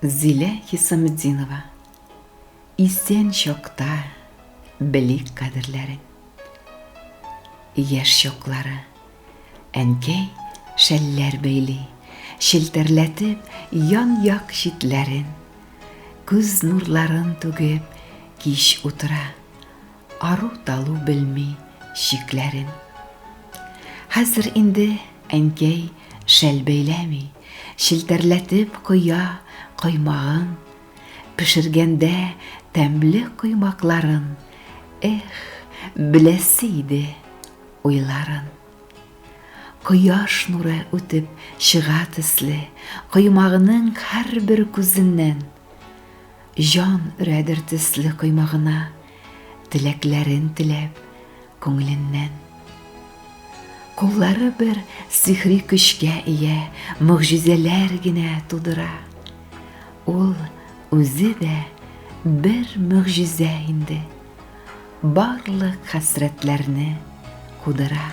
Зилә Хисаметдинова Исән чакта белик кадерләрен Яшь чаклары Әнкәй шәлләр бәйли Челтәрләтеп ян-як читләрен Күз нурларын түгеп кич утыра Ару-талу белми чикләрен. Хәзер инде әнкәй шәл бәйләми, челтәрләтеп коя коймагын, пешергәндә тәмле коймакларын, эх, беләсе иде уйларын. Кояш нуры үтеп чыга төсле, коймагының һәрбер күзеннән. Җан өрәдер төсле коймагына Теләкләрен теләп күңеленнән. Куллары бер сихри көчкә ия, Могҗизәләр генә тудыра. Ул үзе дә бер могҗизә инде, Барлык хәсрәтләрне кудыра.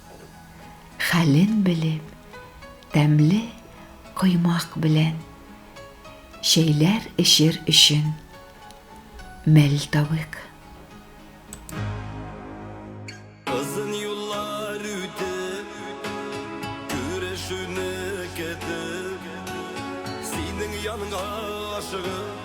Хәлен белеп, тәмле коймак белән чәйләр эчер өчен мәлтавык. Озын юллар үтеп, күрешүне көтеп, синең янга ашыгып.